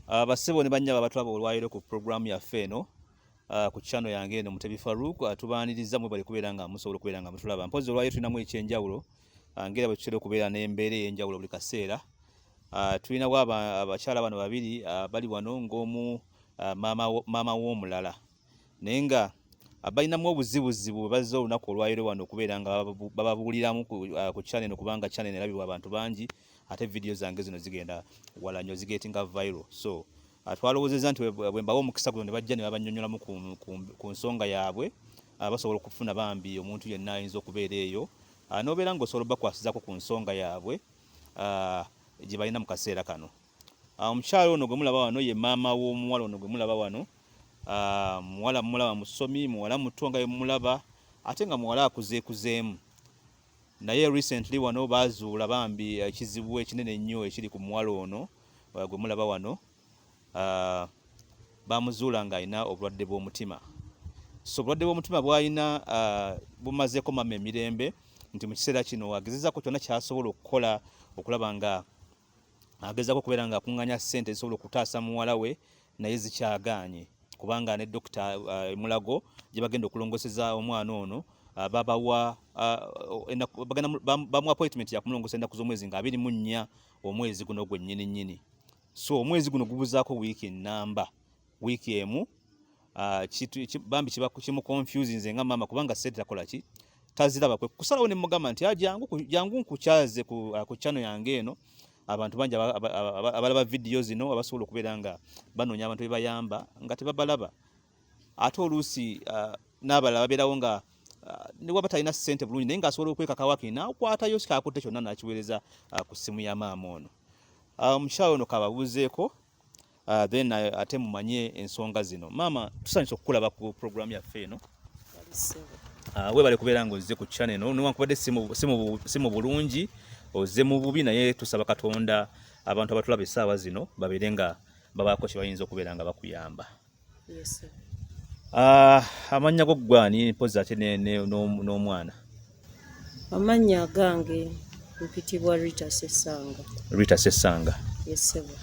Ah, bassebo ne bannyabo abatulaba olwaleero ku pulogulaamu yaffe eno ah, ku channel yange eno Mutebi Farouk ah, tubaaniriza mwebale kubeera nga musobola okubeera nga mutulaba mpozi olwaleero tulinamu ekyenjawulo ngera bwe tutera okubeera n'embeera ey'enjawulo buli kaseera tulinawo abakyala bano babiri bali wano ng'omu maama w'omulala naye nga abalinamu obuzibuzibu bwebazze olunaku olwayiro wano okubeera nga bababuuliramu ku uh, chaneno kubanga chaneno erabibwa abantu bangi ate vidiyo zange zino zigenda wala nyo zigetinga viral so uh, twalowozeza nti bwembawa omukisa guno nebajja nebabanyonyolamu ku nsonga yaabwe uh, basobola okufuna bambi omuntu yenna ayinza okubeera eyo nobeera nga osobola obakwasizako ku nsonga yaabwe gyebalina mu kaseera kano Ah, omukyala ono gwe mulaba wano ye maama w'omuwala ono gwe mulaba wano ah, muwala mulaba musomi muwala muto nga yemulaba ate nga muwala akuzeekuzeemu naye recently wano bazuula bambi ekizibu ekinene ennyo ekiri ku muwala ono ah, gwe mulaba wano bamuzuula ng'alina obulwadde bw'omutima so obulwadde bw'omutima bwalina bumazeeko mama emirembe nti mu kiseera kino agezezako kyonna kyasobola okukola okulaba nga agezaako okubeera nga akunganya sente zisobola okutaasa muwala we naye zikyagaanye kubanga ne dokita uh, emulago uh, gye bagenda okulongoseza omwana ono uh, babawa bamu appointment yakumulongosa ennaku z'omwezi nga abiri mu nnya omwezi guno gwennyini nnyini so omwezi guno gubuzaako wiiki ennamba wiiki emu Ah, bambi kiba kimu confusing nze nga maama kubanga sente takola ki taziraba kwe kusalawo ne mugamba nti ajangu ah, jangu nkukyaze ku, ah, ku channel yange eno abantu bangi abalaba video zino abasobola okubeera nga banoonya abantu bebayamba nga tebabalaba ate oluusi uh, n'abalala babeerawo nga uh, newaba talina sente bulungi naye nga asobola okwekakawaki nakwatayo sikakutta kyonna nakiweereza uh, ku ssimu ya maama ono omukyalo um, ono kababuuzeeko Uh, then uh, ate mumanye ensonga zino maama tusanyusa okukulaba ku program yaffe eno uh, webale kubeera nga ozze ku channel eno newankubadde si mu bulungi ozze mu bubi naye tusaba katonda abantu abatulaba essaawa zino babeere nga babaako kyebayinza okubeera nga bakuyamba yes, uh, amannya go ggwani mpozi ate n'omwana ne, ne, no, no, Amannya agange mpitibwa Rita Sessanga. Rita Sessanga. Yes, sebo.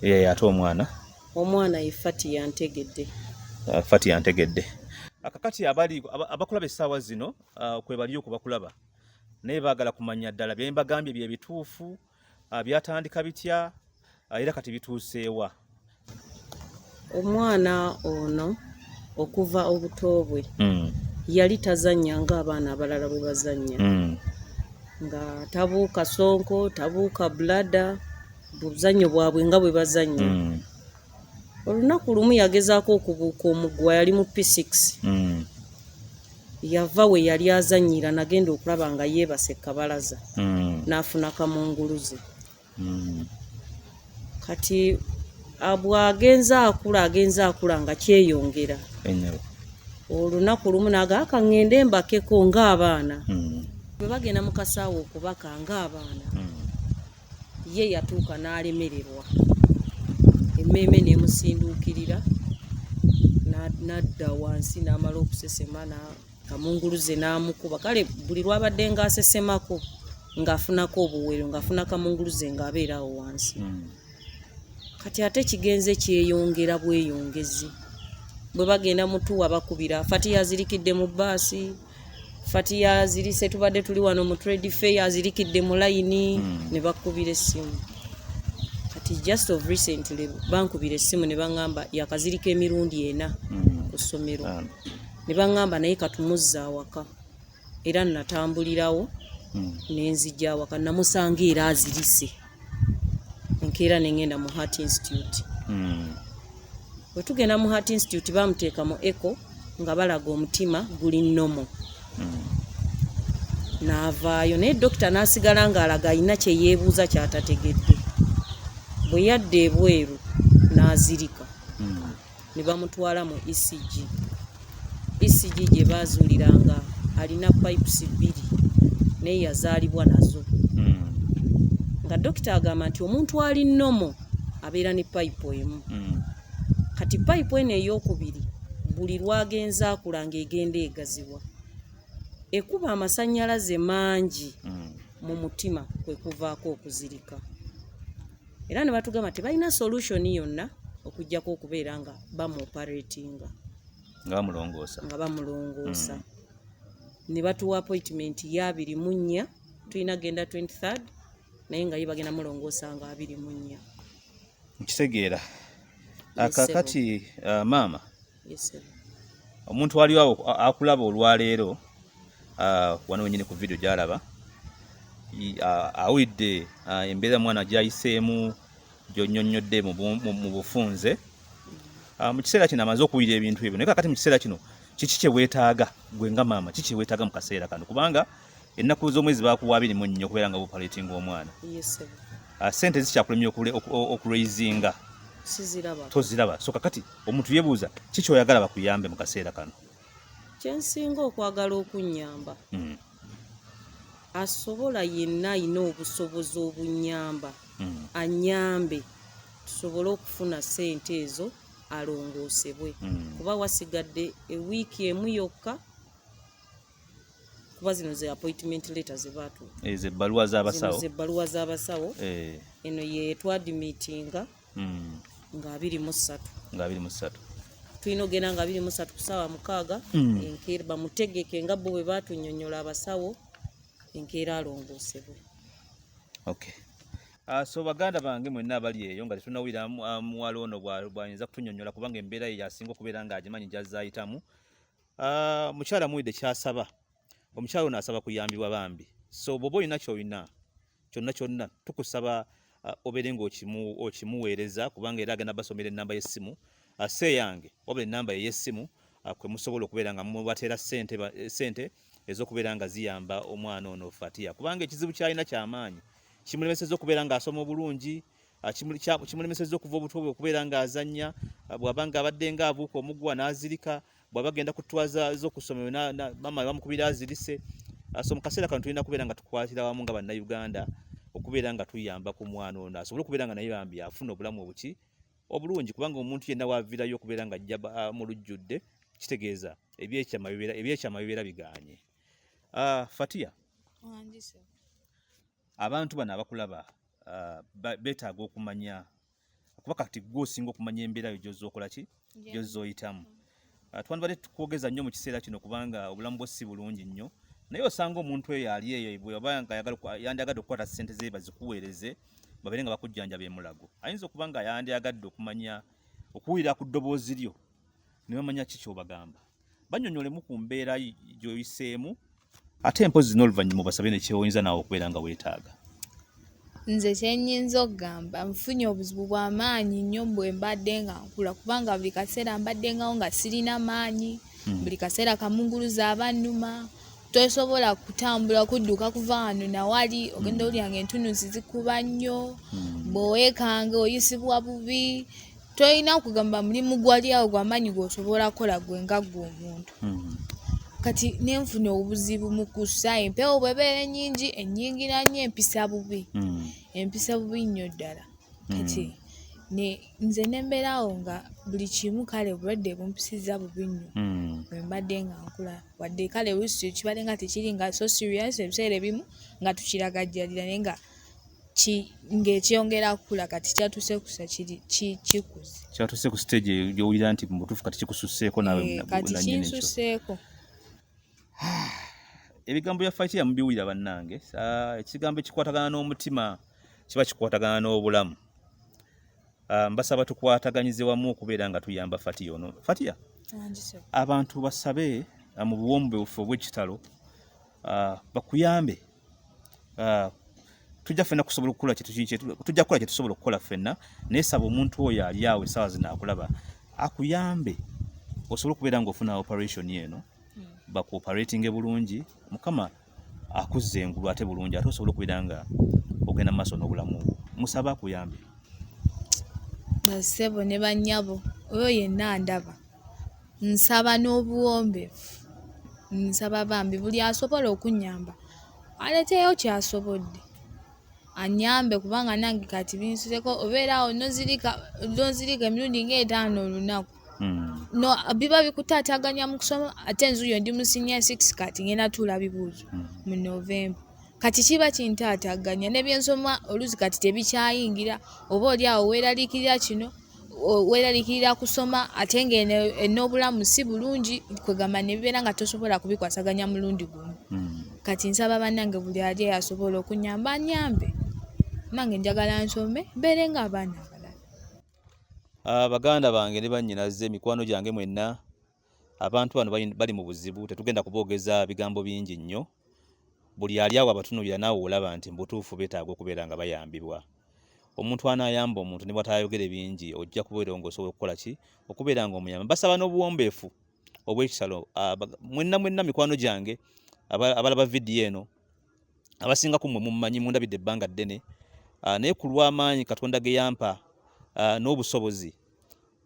Ye ate omwana? Omwana ye Fati yantegedde. Uh, Fati yantegedde. Akakati abali abakulaba essaawa zino uh, kwe bali okubakulaba naye baagala kumanya ddala bye mbagambye bye bituufu ah, byatandika bitya ah, era kati bituuseewa omwana ono okuva obuto bwe hmm. yali tazannya ng'abaana abalala bwe bazannya hmm. nga tabuuka sonko tabuuka bulada buzannyo bwabwe nga bwe bazannya hmm. olunaku lumu yagezaako okubuuka omuguwa yali mu p6 mm. yava we yali azanyira nagenda okulaba nga yeebase kabalaza mm. n'afuna kamunguluze mm. kati bw'agenze akula agenze akula nga kyeyongera olunaku lumu naga akaŋŋende mbakeko ng'abaana bwe bagenda mu kasaawa okubaka ng'abaana ye yatuuka n'alemererwa emmeeme n'emusinduukirira n'adda wansi n'amala okusesema kamunguluze n'amukuba kale buli lwabadde ng'asesemako ng'afunako obuwero ng'afuna kamunguluze ng'abeera awo wansi hmm. kati ate kigenze kyeyongera bweyongezi bwe bagenda mutuwa bakubira fati yazirikidde mu baasi fatiya azirise tubadde tuli wano mu trade fair azirikidde mu layini hmm. ne bakubira essimu kati just of recently bankubira essimu ne baŋŋamba yakazirika emirundi ena hmm. ku ssomero ah. ne baŋŋamba naye katumuzza awaka era natambulirawo hmm. nenzija awaka namusanga era azirise enkeera ne ngenda mu heart institute hmm. bwe tugenda mu heart institute bamuteeka mu eco nga balaga omutima guli nomo hmm. naavaayo naye dokita n'asigala ng'alaga alina kye yeebuuza kyatategedde bwe yadda ebweru n'azirika ne bamutwala mu ECG. ECG gye baazuulira nga alina pipes bbiri naye yazaalibwa nazo hmm. nga dokita agamba nti omuntu ali nomo abeera ne pipe emu hmm. kati pipe eno ey'okubiri buli lwagenze akula ng'egenda egaziwa ekuba amasannyalaze mangi hmm. mu mutima kwe kuvaako okuzirika era ne batugamba tebalina solution yonna okujjako okubeera nga bamuoperatinga nga bamulongoosa nga bamulongoosa mm. ne batuwa appointment ya abiri mu nnya tulina genda 23 naye nga ye bagenda mulongoosa nga abiri mu nnya nkitegeera akakati uh, maama omuntu waliwo akulaba olwaleero ah, wano wenyini ku vidiyo gyalaba ah, awulidde ah, embeera mwana gyayiseemu gyonyonyodde mu bufunze mu kiseera kino amaze okuwulira ebintu ebyo naye kakati mu kiseera kino kiki kyewetaaga gwe nga maama kiki kyewetaaga mu kaseera kano kubanga ennaku z'omwezi bakuwa abiri mu nnya okubeera nga bupaletinga omwana ah, sente zikyakulemya okuraisinga toziraba so kakati omuntu yebuuza ki kyoyagala bakuyambe mu kaseera kano kyensinga okwagala okunyamba hmm. asobola yenna ayina obusobozi obunyamba hmm. anyambe tusobole okufuna sente ezo alongoosebwe hmm. kuba wasigadde ewiiki emu yokka kuba zino ze appointment letter ze baatu ezo eh, ebbaluwa z'abasawo ze ebbaluwa z'abasawo eh. eno ye twadimitinga hmm. nga abiri mu ssatu nga abiri mu ssatu tulina ogenda nga abiri mu ssatu ku ssaawa mukaaga hmm. enkeera bamutegeke nga bo bwe baatunyonyola abasawo enkeera alongoosebwe okay Uh, so baganda bange mwenna abali eyo nga tetunawulira ah, muwala ono bwayinza kutunyonyola kubanga embeera ye yasinga okubeera ng'agimanyi gyazayitamu Ah, mukyala muwulidde kyasaba omukyala ono asaba kuyambibwa bambi so bwoba olina kyolina kyonna kyonna tukusaba ah, obeere nga okimuweereza kubanga era agenda basomera enamba y'essimu ah, se yange wabula enamba ey'essimu kwe musobola okubeera nga mubateera sente eh, ez'okubeera nga ziyamba omwana ono fatiya kubanga ekizibu kyalina kyamaanyi kimulemeseza okubeera ng'asoma obulungi Ah, kimulemeseza okuva obutobwe okubeera ng'azannya ah, bw'aba ng'abadde ng'abuuka omuguwa n'azirika bwaba genda kutwaza zo kusomero na, na mama bamukubira azirise ah, so mukasera kantu tulina kubera nga tukwatira wamu nga banna Uganda okubera nga tuyamba ku mwana ono asobole kubera nga naye bambi afuna obulamu obuki obulungi kubanga omuntu yenna wavirayo okubera nga ajja ah, mu lujjudde kitegeeza ebyekyama bibeera ebyekyama bibeera biganye uh, Fatia abantu bano abakulaba uh, betaaga okumanya kuba kati gwe osinga okumanya embeera yo gyozza okola ki gyozza oyitamu ah, twandibadde tukwogeza nnyo mu kiseera kino kubanga obulamu bwo si bulungi nnyo naye osanga omuntu eyo ali eyo bweba nga yandyagadde okukwata ssente ze bazikuweereze babeere nga bakujjanjaba emulago ayinza okuba nga yandyagadde okumanya okuwulira ku ddoboozi lyo ne bamanya ki kyobagamba banyonyolemu ku mbeera gyoyiseemu ate empozi zino oluvannyuma obasabe nekyewoyinza naawe okubeera nga weetaaga nze kyenyinza okugamba nfunye obuzibu bwamaanyi nnyo bwe mbadde nga nkula kubanga buli kaseera mbaddengawo nga sirina maanyi hmm. buli kaseera kamunguluza abannuma tosobola kutambula kudduka kuva wano nawali ogenda hmm. olya nga entunuzi zikuba nnyo hmm. bwewekanga oyisibwa bubi tolina kugamba mulimu gwali awo gwamaanyi gwosobola kukola gwe nga gwe omuntu hmm. kati nenfuna obuzibu mu kussa empewo bwebeera enyingi enyingira nyo empisa bubi hmm. empisa bubi nnyo ddala hmm. kati nze nembeera awo nga buli kimu kale obulwadde bumpisiza bubi nnyo bwembadde nga nkula wadde kale wisi kibadde nga tekiri nga so serious ebiseera ebimu nga tukiragajjalira naye nga ng'ekyongera kukula kati kyatuuse kusa kikuze kyatuuse ku siteegi gy'owulira nti mu butuufu kati kikususseeko nawe eh, kati kinsusseeko ebigambo bya fayiti yamubiwulira bannange ekigambo ekikwatagana n'omutima kiba kikwatagana n'obulamu ah, mbasaba tukwataganyize wamu okubeera nga tuyamba fatiya ono fatiya abantu basabe ah, mu buwombeefu obw'ekitalo ah, bakuyambe ah, tujja fena kusobola okukola tujja kukola kyetusobola okukola fena naye saba omuntu oyo ali awo esaawa zino akulaba akuyambe osobole okubeera nga ofuna operation eno hmm. bakuoperatinge bulungi mukama akuzza engulu ate bulungi ate osobola okubeera nga ogenda maaso n'obulamu bwo musaba akuyambe basebo ne banyabo oyo yenna ndaba nsaba n'obuwombeefu nsaba bambi buli asobola okunnyamba aleeteyo ky'asobodde annyambe kubanga nange kati binsuseeko obeera awo nozirika nozirika emirundi ng'etaano olunaku hmm. no biba bikutaataganya mu kusoma ate nzuyo ndi mu senior six kati ngenda tuula bibuuzo hmm. mu november kati kiba kintaataaganya ne byensoma oluusi kati tebikyayingira oba oli awo weeraliikirira kino weeralikirira kusoma ate ng'eno en'obulamu si bulungi kwegamba nebibeera nga tosobola kubikwasaganya mulundi gumu hmm. kati nsaba bannange buli ali asobola okunyamba anyambe nange njagala nsome mbeere nga abaana abalala ah, baganda bange ne bannyinaze emikwano gyange mwenna abantu bano bali mu buzibu tetugenda kuboogeza bigambo bingi nnyo buli ali awo abatunuulira naawe olaba nti mubutuufu betaaga okubeera nga bayambibwa omuntu anayamba omuntu ne bwatayogere bingi ojja kubeera nga osobola okukola ki okubeera nga omuyamba basaba n'obuwombeefu obwekisalo ah, mwenna mwenna mikwano gyange abalaba vidiyo eno abasinga ku mwe mummanyi mundabidde ebbanga ddene ah, naye ku lw'amaanyi katonda ge yampa ah, n'obusobozi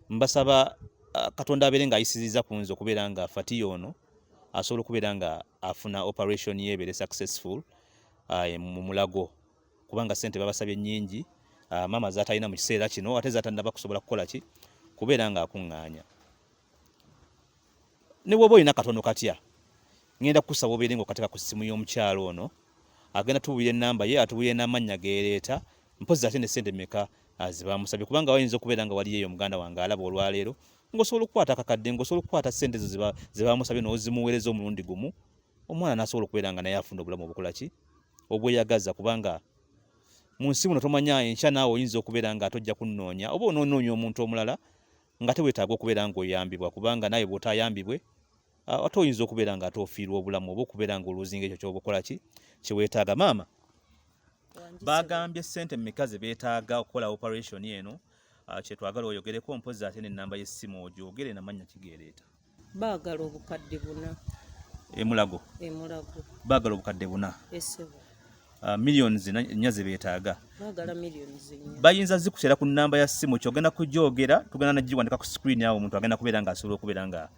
mbasaba uh, katonda abeere nga ayisiriza ku nze okubeera nga fatiya ono asobola okubeera nga afuna operation ye ebeere successful uh, mu mulago kubanga sente babasabye nyingi uh, maama zatalina mu kiseera kino ate zatanaba kusobola kukola ki kubeera nga akuŋŋaanya ne bwoba olina katono katya ngenda kukusaba obeere nga okateka ku ssimu y'omukyalo ono agenda tubulira enamba ye atubulira n'amannya geereeta mpozi ate ne sente meka zibamusabye kubanga wayinza okubeera nga waliyo eyo muganda wange alaba olwaleero ngaosobola okukwata akakadde ngaosobola okukwata sente ezo zebamusabye nozimuweereza omulundi gumu omwana nasobola okubeera nga naye afuna obulamu obukola ki obweyagaza kubanga mu nsi muno tomanya enkya naawe oyinza okubeera nga atojja kunnoonya oba onoonoonya omuntu omulala nga te wetaaga okubeera ng'oyambibwa kubanga naawe bw'otaayambibwe ate oyinza okubeera nga ate ofiirwa obulamu oba okubeera nga oluuzinga ekyo kyoba okola ki kye weetaaga maama baagambye ssente mumeka ze beetaaga okukola operation eno kyetwagala oyogereko mpozi ate n'ennamba y'essimu ogyogere namannya kigeereeta baagala obukadde buna emulago emulago baagala obukadde buna esebo Uh, millions nnya ze beetaaga bayinza zikuteera ku nnamba ya ssimu kyogenda kugyogera tugenda nagiwandika ku screen awo omuntu agenda kubeera nga asobola okubeera nga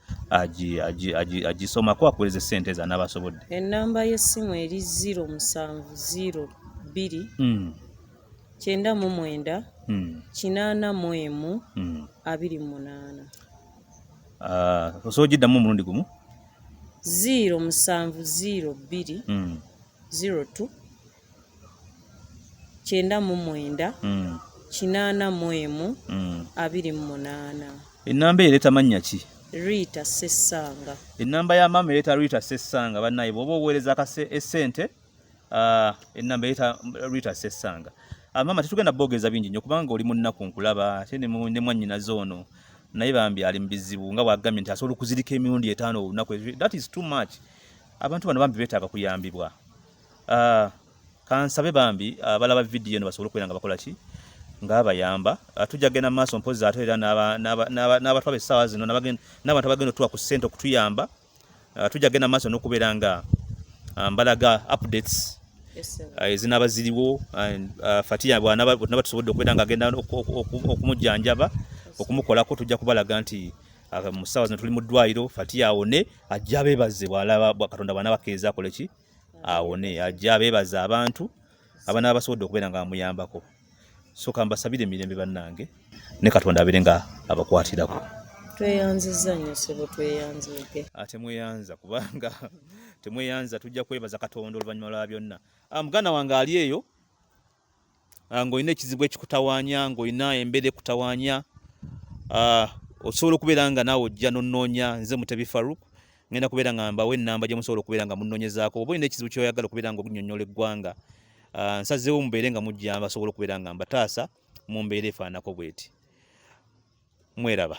agisomako akuwereza esente eza naaba asobodde ennamba y'essimu eri 0 musanvu 0 bbiri hmm. kyenda mu mwenda hmm. kinaana mu emu hmm. abiri munaana Ah, osobola ogiddamu omulundi gumu ziiro musanvu ziiro bbiri hmm. ziiro tu kyenda mu mwenda hmm. kinaana mu emu hmm. abiri mu munaana ennamba ereeta mannya ki riita sessanga ennamba ya maama ereeta riita sessanga bannaye bw'oba oweereza kase esente Ah, enamba yeta Rita Sesanga. Ah, mama tetugenda bogeza bingi nyo kubanga oli munnaku nkulaba ate ne mwanyina zoono naye bambi ali mubizibu nga bwagambye nti asobola okuzirika emirundi etaano olunaku that is too much abantu bano bambi betaaga kuyambibwa uh, kansabe bambi abalaba uh, vidiyo eno basobole okubeera nga bakola ki ngaabayamba uh, tujja kugenda mu maaso mpozi ate era n'abatwaba essaawa zino n'abantu abagenda otuwa ku ssente okutuyamba uh, tujja genda maaso n'okubeera nga uh, mbalaga updates uh, ezinaba ziriwo uh, fatiya bwanaba tusobodde okubeera nga agenda okumujjanjaba okumukolako tujja kubalaga nti uh, mu ssaawa zino tuli mu ddwaliro fatiya awone ajja abeebaze katonda bwana bakiriza akoleki awone ajja abeebaze abantu abana basobodde okubeera nga bamuyambako so kambasabire emirembe bannange ne katonda abeere nga abakwatirako tweyanziza nyo sebo tweyanzike ate ah, mweyanza kubanga temweyanza tujja kwebaza katonda oluvannyuma lwa byonna ah, muganda wange ali eyo ah, ng'olina ekizibu ekikutawanya ng'olina embeera ekutawanya osobola okubeera nga naawe ojja nonoonya nze mutebi faruk ngenda kubeera nga mbawo enamba gyemusobola okubeera nga munonyezako oba olina ekizibu kyoyagala okubeera nga okunyonyola eggwanga ah, nsazeewo mubeere nga mujja basobola okubeera nga mbataasa mu mbeera efaanako bweti mweraba